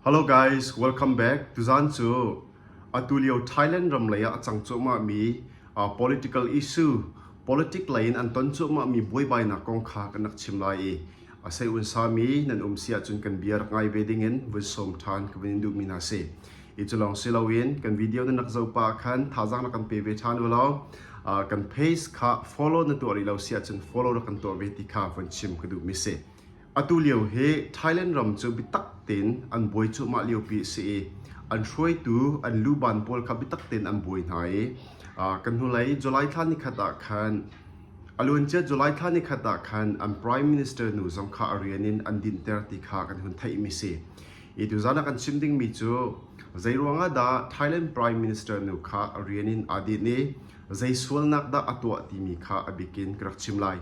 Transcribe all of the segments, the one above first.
Hello guys, welcome back. Tuzan cu atulio Thailand ram lei ah a cang cuahmahmi uh, political issue, politic lei in an ton cuahmahmi buaibainak kong kha kan rak chim lai i a sei un sami nan um si ahcun kan bia rak ngai ve ding in vun som ṭhan ka vun in duhmi hna si. I cu lawng si loin kan video na nak zo pa khan thazang na kan pe ve ṭhan u lo. Uh, kan page kha follow na tuah rih lo si ahcun follow ra kan tuah ve ti kha vun chim ka duhmi si. Atulio hi Thailand ram cu biatak tein an buai cuahmah liopi a si i an hruaitu an luban pawl kha biatak tein an buai hna i kan hnulei July thla nikhat ah khan a luancia July thla nikhat ah khan an Prime Minister nu zong kha a rian in an dinhter ti kha kan hun theihmi si. Hi tuzan a kan chim dingmi cu zeiruangah dah Thailand Prime Minister nu kha a rian in aa dinh i zei sualnak dah a tuah timi kha a bikin ka rak chim lai.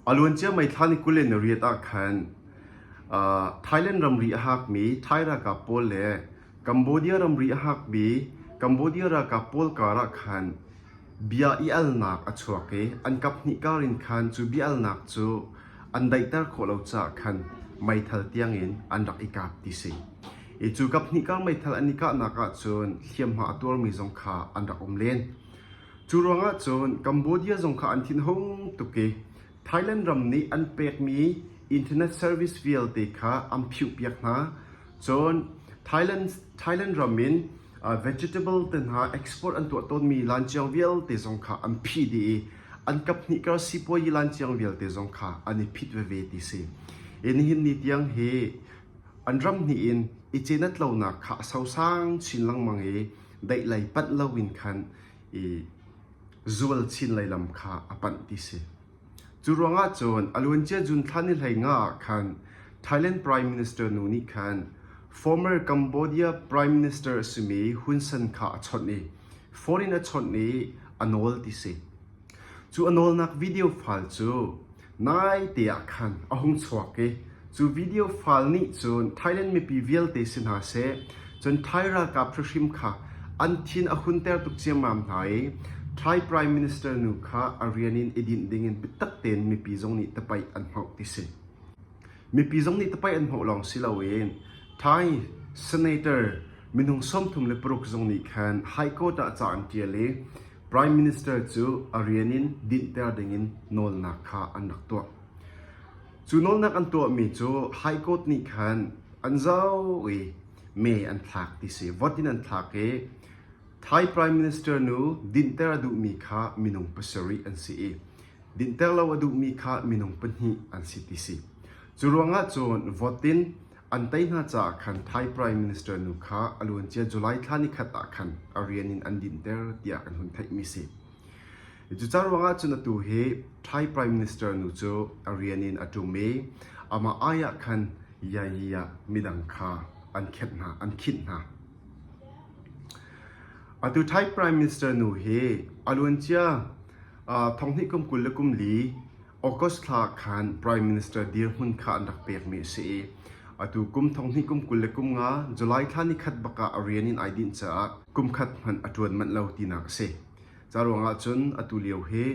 A luancia meithlan kul in riat ah khan Thailand ramri a hakmi Thai ralkap pawl le Cambodia ramri a hakmi Cambodia ralkap pawl karah khan bia i alnak a chuak i an kaphnih kar in khan cu bia alnak cu an daihter khawh lo caah khan meithal tiangin an rak i kap ti si. I cu kaphnih kar meithal an i kahnak ahcun hliamhma a tuarmi zong kha an rak um len. Cu ruangah cun Cambodia zong kha an thinhung tuk i Thailand ram nih an pekmi internet service vialte kha an phihpiak hna. Cun Thailand ram in vegetable te hna export an tuah tawnmi lanciang vialte zong kha an phih dih i an kaphnih kar sipuazi lanciang vialte zong kha an i phit veve ti si. I nihin ni tiang hi an ram hnih in i cenat lonak kha a sosang chin lengmang i deih lei panh loin khan i zual chin lei lam kha a panh ti si. Cu ruangah cun aluancia June thla ni hlei nga ah khan Thailand Prime Minister nu nih khan former Cambodia Prime Minister a simi Hun Sen kha a chawnh i foreign a chawnh i a nawl ti si. Cu a nawlnak video file cu Naite ah khan a hung chuak i cu video file nih cun Thailand mipi vialte si hna seh, cun Thai ralkap hrihrim kha an thin a hunter tuk ciammam hna i Thai Prime Minister nu kha a rian in i dinh dingin biatak tein mipi zong nih tapaih an hmauh ti si. Mipi zong nih tapaih an hmauh lawng si loin Thai Senator minung sawmthum le paruk zong nih khan High Court ah ca an ṭial i Prime Minister cu a rian in dinhter dingin nawlnak kha an rak tuah. Cu nawlnak an tuahmi cu High Court nih khan an zau i mee an thlak ti si. Vot in an thlak i Thai Prime Minister nu dinhter a duhmi kha minung pasarih an si i dinhter lo a duhmi kha minung pahnih an si ti si. Cu ruangah cun vote in An tei hna caah khan Thai Prime Minister nu kha a luancia July thla nikhat ah khan a rian in an dinhter tiah kan hun theihmi si. Cuca ruangah cun atu hi Thai Prime Minister nu cu a rian in a ṭum i amah ai ah khan yayi ah midang kha an khenh hna, an khinh hna. Atu Thai Prime Minister nu hi a luancia thonghnih kum kul le kum li August thla khan Prime Minister dirhmun kha an rak pekmi a si i atu kum thonghnih kum kul le kum nga July thla ni khat bak ah a rian in ai dinh caah kumkhat hmanh a ṭuan manh lo tinak a si. Ca ruangah cun atu lio hi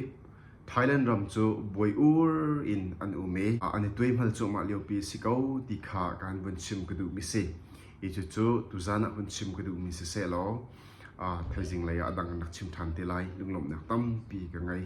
Thailand ram cu buai ur in an um i an i tuaihmal cuahmah liopi a si ko ti kha kan vun chim ka duhmi si. Hi cucu tuzan ah vun chim ka duhmi si sehlaw thaizing lei ah a dang an rak chim ṭhan te lai lunglawmhnak tampi ka ngei.